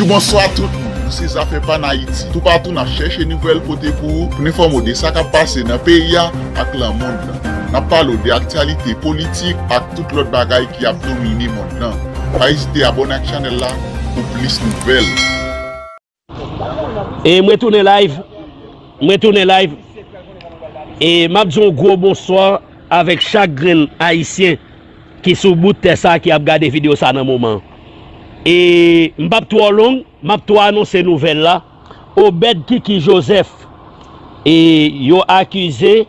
Bonjou bonswa tout moun nou se zafè pa n ayiti tou patou nap chèche nouvèl pote pou ou pou n enfòme w de sa kap pase nan peyi a ak lan mond lan nap pale w de aktyalite politik ak tout lòt bagay ki ap domine mond lan pa ezite abòne ak chanèl la pou plis nouvèl. E mwen tounen live mwen tounen live e map di w gwo bonswa avèk chak grenn ayisyen. ki sou bout tè sa ki ap gade video sa nan moman e m pap twò long map tou anonse nouvèl la Obed Kiki Joseph e yo akize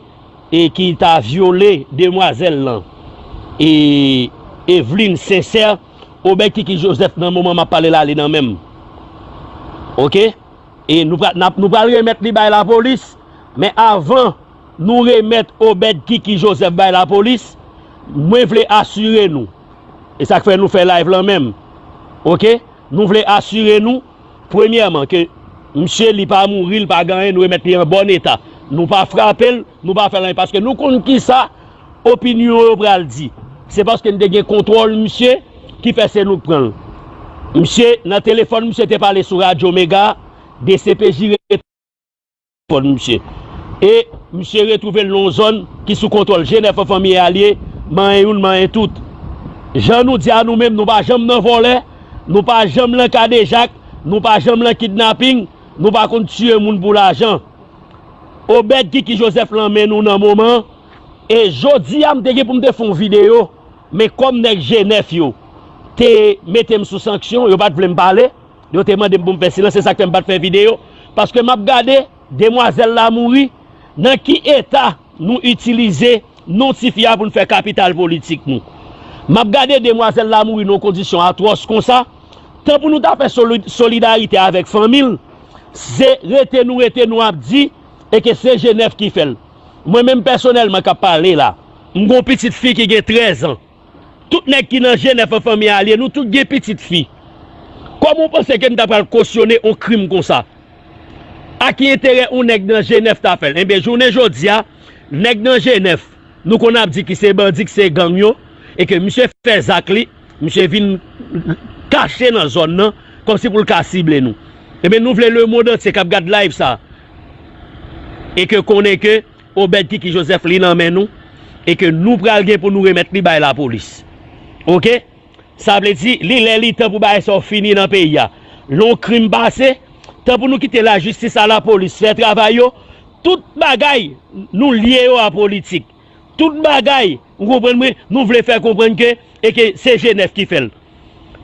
e ki ta vyole demwazèl lan e Eveline Sincère Obed Kiki Joseph nan moman map pale la li nan menm ok e nou pral remèt li bay lapolis men avan. Nou remèt Obed Kiki Joseph bay lapolis, mwen vle asire nou, e sa k fè nou fè live lan menm ok, nou vle asire nou premyèman ke misye li pa mouri, li pa gen anyen, nou remèt li an bòn eta, nou pa frape l, nou pa fè l anyen paske nou konn kisa opinyon yo pral di, se paske n te gen kontwòl misye ki fè se nou k pran l. Misye nan telefòn misye te pale sou radyo mega, dcpj rete. Pon misye e misye retwouve l nan yon zòn ki sou kontwòl Jenèf an fanmi e alye manyen youn manyen tout jan nou di a nou menm nou pa janm nan vòlè nou pa janm lan kadejak nou pa janm lan kidnaping nou pa konn tiye moun pou lajan Obed Kiki Joseph lan men nou nan moman e jodi a m te gen pou m te fè yon videyo men kòm nèg Jenèf yo te mete m sou sanksyon yo pa t vle m pale. Yo te mande m pou m fè silans se sak fè m pat fè video paske map gade demwazèl la mouri nan ki eta nou itilize non ti fi a pou n fè kapital politik nou map gade demwazèl la mouri nan yon kondisyon atwòs konsa tan pou nou ta fè solidarite avèk fanmi l se rete nou rete nou ap di e ke se jenèf ki fè l mwen menm pèsonèlman kap pale la m gon pitit fi ki gen 13 an. Tout nèg ki nan Jenèf an fanmi Alie, nou tout gen pitit fi. Kòman w panse ke m ta pral kosyone on krim konsa? A ki enterè on nèg nan Jenèf ta fè l? Enben, jounen jodi a, nèg nan Jenèf, nou konn ap di ki se bandi, ki se gang yo, e ke misye fè zak li, misye vin kache nan zòn nan, kòmsi pou l ka sible nou. Enben, nou vle lemond antye k ap gad live sa, e ke konnen ke, Obed kiki Joseph li nan men nou e ke nou pral gen pou nou remèt li bay lapolis ok sa vle di li lè li tan pou bagay sa yo fini nan peyi a lè yon krim pase tan pou nou kite lajistis a lapolis fè travay yo tout bagay nou lye yo a politik tout bagay Ou konprann mwen? Nou vle fè konprann ke e ke se G9 ki fè l.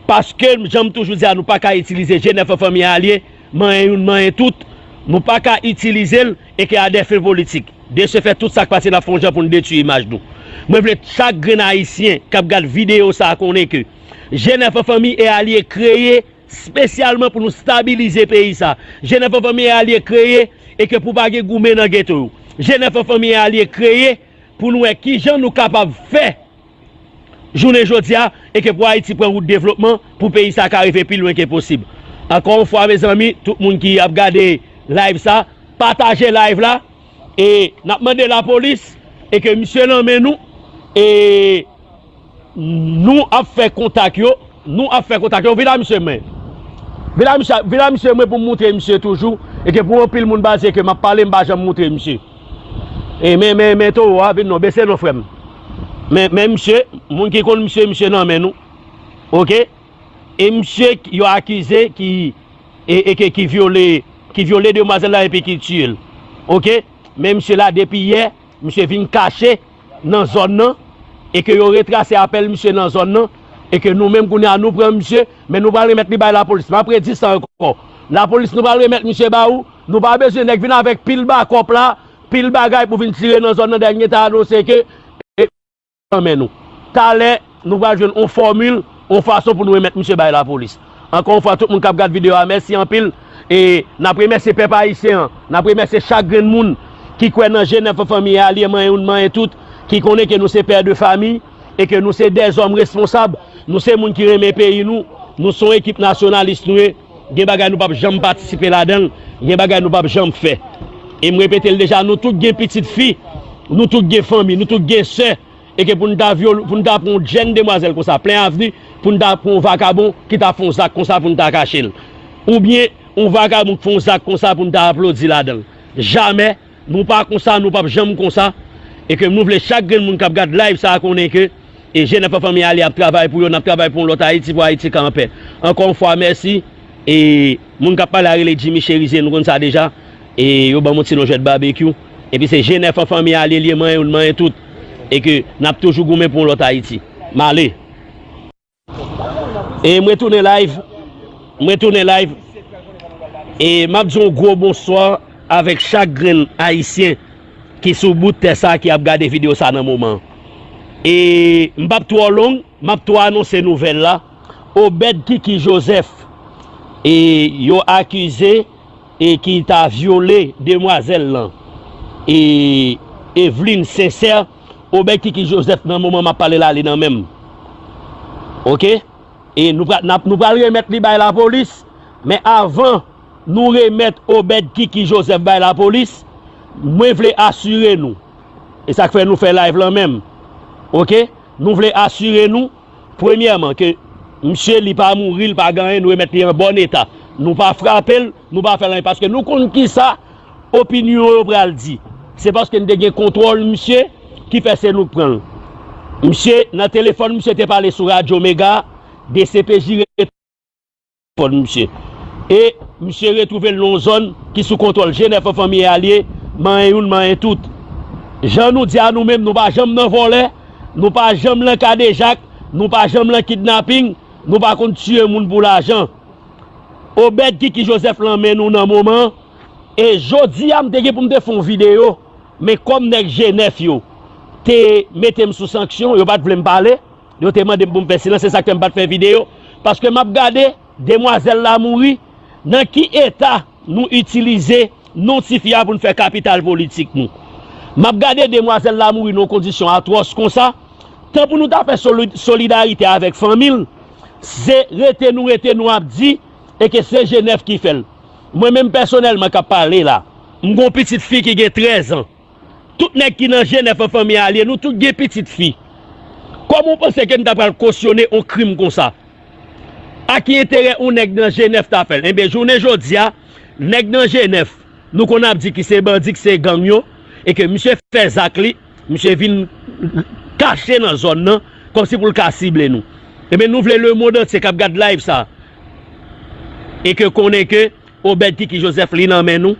Paske jan m toujou di a nou pa ka itilize G9 an fanmi alye, manyen youn manyen tout. Nou pa ka itilize l e ke a dè fen politik. De se fèt tout sa k pase n ap fè yon jan pou n detui imaj nou. Mwen vle chak grenn ayisyen k ap gad videyo sa a konnen ke G9 an fanmi e alye kreye spesyalman pou nou stabilize peyi sa a. G9 an fanmi e alye kreye e ke pou pa gen goumen nan geto yo. G9 an fanmi e alye kreye. pou n wè ki jan nou kapab fè jounen jodi a e ke pou Ayiti pran wout devlopman, pou peyi sa ka rive pi lwen ke posib. Ankò yon fwa mezanmi, tout moun ki ap gade live sa, pataje live la e n ap mande lapolis e ke misye nan men nou e. Nou ap fè kontak yo Nou ap fè kontak yo Vin a misye mwen Vin a misye Vin a misye mwen pou m moutre misye toujou E ke pou anpil moun panse ke m ap pale m pa janm moutre misye E men men men towo a vin non Bese non frè m Men men misye Moun ki konn misye misye nan men nou Ok E misye yo akize ki E e ke ki vyole Ki vyole demwazèl la epi ki tiye l Ok Men misye la depi yè Misye vin kache nan zòn nan e ke yo retrase apèl misye nan zòn nan e ke nou menm kounye a nou pran misye men nou pral remèt li bay lapolis map redi sa ankò lapolis nou pral remèt misye ba ou nou pa bezwen nèg vin avèk pil bakòp la pil bagay pou vin tire nan zòn nan dènye ta anonse ke e nan men nou talè. Nou pral jwenn on fòmil, on fason pou nou remèt misye bay lapolis. Ankò yon fwa tout moun kap gad video a mèsi anpil e nap remèsye pèp ayisyen an, nap remèsye chak grenn moun ki kwè nan jenèf an fanmi e alye manyen youn manyen tout, ki konnen ke nou se pè de fami e ke nou se de zòm responsab, nou se moun ki renmen peyi nou, nou son ekip nasyonalis nou ye, gen bagay nou pap janm patisipe ladanl, gen bagay nou pap janm fè. E m repetel deja nou tout gen pitit fi, nou tout gen fanmi, nou tout gen sè. E ke pou n ta vyole, pou n ta pran yon jenn demwazèl konsa plen avni, pou n ta pran yon vakabon ki ta fè yon zak konsa pou n ta kache l. Oubyen yon vakabon k fè yon zak konsa pou n ta aplodi ladan l. Jamè! Nou pa konsa, nou p ap janm konsa. E ke nou vle chak grenn moun k ap gad live sa a konnen ke e jenèf an fanmi Aly ap travay pou yo, n ap travay pou yon lòt Ayiti, pou Ayiti ka anpè. Ankò yon fwa mèsi. E moun k ap pale a rele Jimmy Cherizier, nou konn sa deja. E yo banm yon ti lonjèt babekyou. Epi se je nèf an fanmi a ale lye manyen ou n manyen tout. E ke nap toujou goumen pou yon lòt Ayiti. M ale. E m retounen live. M retounen live. E map di yon gwo bonswa avèk chak grenn Ayisyen ki sou bout tè sa ki ap gade video sa nan moman. E m pap twò long map tou anonse nouvèl la. Obed Kiki Joseph e yo akize. e ki ta vyole demwazèl lan e Evelyne Sincère obed Kiki Joseph nan moman map pale la li nan menm ok e nou pral nap nou pral remèt li bay lapolis men avan nou remèt obed Kiki Joseph bay lapolis mwen vle asire nou e sak fè nou fè live lan menm ok nou vle asire nou. Premyèman ke msye li pa mouri li pa gen anyen nou remèt li an bòn eta nou pa frapel nou pa fèl anyen paske nou konn kisa opinyon yo pral di se paske nou te gen kontwòl msye ki fè se nou k pranl msye nan telefòn msye te pale sou radyo mega dcpj rete. Pon misye e misye retwouve l nan yon zòn ki sou kontwòl Jenèf anfanmiye alye manyen youn manyen tout jan nou di a nou menm nou pa janm nan vòlè nou pa janm lan kadejak nou pa janm lan kidnaping nou pa konn tiye moun pou lajan Obèd Kiki Jozèf lan men nou nan moman e jodi a m te gen pou m te fè yon videyo men kòm nèg Jenèf yo te mete m sou sanksyon yo pa t vle m pale. Yo te mande m pou m fè silans se sak fè m pat fè video paske map gade demwazèl la mouri nan ki eta nou itilize non ti fi a pou n fè kapital politik nou map gade demwazèl la mouri nan yon kondisyon atwòs konsa tan pou nou ta fè solidarite avèk fanmi l se rete nou rete nou ap di e ke se jenèf ki fè l mwen menm pèsonèlman kap pale la m gon pitit fi ki gen 13 an. Tout nèg ki nan Jenèf an fanmi al ye, nou tout gen pitit fi. Kòman w panse ke m ta pral kosyone on krim konsa? A ki enterè on nèg nan Jenèf ta fè l? Enben, jounen jodi a, nèg nan Jenèf, nou konn ap di ki se bandi, ki se gang yo, e ke misye fè zak li, misye vin kache nan zòn nan, kòmsi pou l ka sible nou. Enben, nou vle lemond antye k ap gad live sa, e ke konnen ke Obed kiki Joseph li nan men nou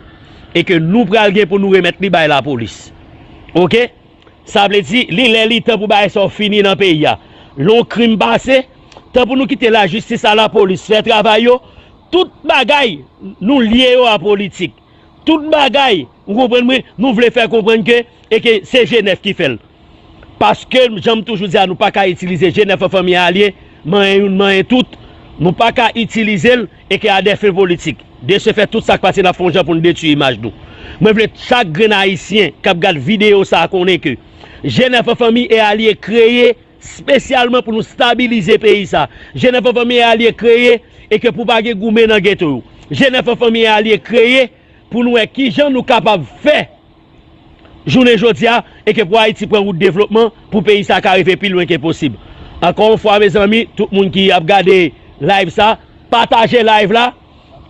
e ke nou pral gen pou nou remèt li bay lapolis ok sa vle di li lè li tan pou bagay sa yo fini nan peyi a lè yon krim pase tan pou nou kite lajistis a lapolis fè travay yo tout bagay nou lye yo a politik tout bagay ou konprann mwen nou vle fè konprann ke E ke se G9 ki fèl. Paske jan m toujou di a nou pa ka itilize G9 an fanmi a alye, manyen youn manyen tout, nou pa ka itilize l e ke a dè fen politik. De se fèt tout sa k pase n ap fè yon jan pou n detui imaj nou. Mwen vle chak grenn ayisyen k ap gad videyo sa konnen ke G9 an fanmi e alye kreye spesyalman pou nou stabilize peyi sa. G9 an fanmi e alye kreye e ke pou pa gen goumen nan geto yo. G9 an fanmi e alye kreye pou nou wè kijan nou kapab fè. jounen jodi a e ke pou Ayiti pran wout devlopman pou peyi sa ka rive pi lwen ke posib. Ankò yon fwa mezanmi tout moun ki ap gade live sa pataje live la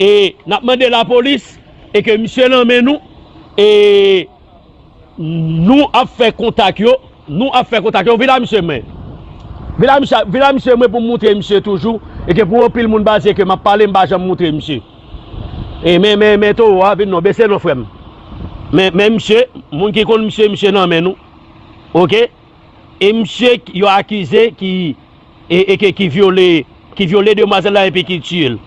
e nap mande lapolis e ke misye nan men nou e nou ap fè kontak yo nou ap fè kontak yo vin la misye mwen vin la misye mwen pou moutre misye toujou e ke pou anpil moun pa di e ke map pale mpa janm moutre misye. E men men men towo a vin non bese non frem men men misye moun ki konn misye misye nan men nou ok e misye yo akize ki e eke ki vyole ki vyole demwazel la epi ki tiyel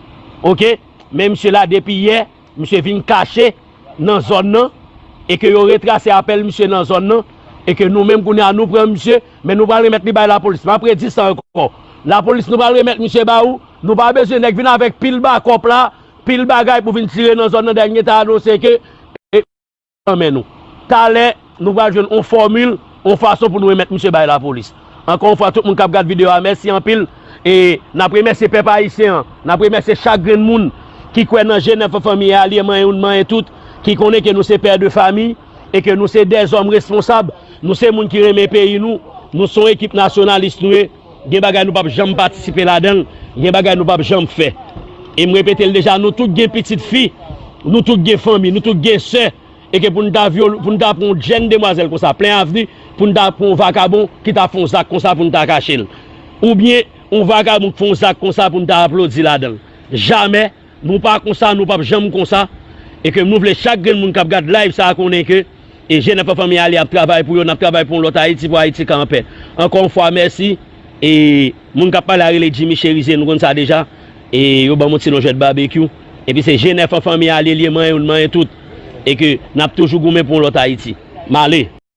ok men misye la depi yè misye vin kache nan zòn nan eke yo retrase apèl misye nan zòn nan eke nou menm kounye a nou pran misye men nou pral remèt li bay lapolis map redi sa ankò lapolis nou pral remèt misye ba ou. Nou pa bezwen nèg vin avèk pil bakòp la, pil bagay pou vin tire nan zòn nan dayè mgen ta anonse ke e nan men nou. Talè nou pral jwenn on fòmil, on fason pou nou remèt misye bay lapolis. Ankò yon fwa tout moun kap gad video a mèsi anpil e nap remèsye pèp ayisyen an, nap remèsye chak grenn moun ki kwè nan je nèf an fanmiye a liye manyen youn manyen tout, ki konnen ke nou se pè de fami e ke nou se dèzòm responsab, nou se moun ki renmen peyi nou, nou son ekip nasyonalis nou ye. Gen bagay nou pap janm patisipe ladan l, gen bagay nou pap janm fè. E m repete l deja, nou tout gen pitit fi, nou tout gen fanmi, nou tout gen sè, e ke pou n ta vyole, pou n ta pran yon jenn demwazèl konsa plen avni, pou n ta pran yon vakabon ki ta fè yon zak konsa pou n ta kache l. Oubyen yon vakabon k fè yon zak konsa pou n ta aplodi ladan l. Jamè! Nou pa konsa nou pap janm konsa e ke nou vle chak grenn moun kap gad live sa konnen ke e jenè pa fanmi ale ap travay pou yo nap travay pou yon lòt ayiti pou ayiti ka anpè ankò yon fwa mèsi e moun kap pale a rele jimmy cherizier nou konn sa deja e yo banm yon ti non jwèt babekyou epi se jenè fanmi ale liye manyen nou manyen tout e ke nap toujou goumen pou yon lòt ayiti male.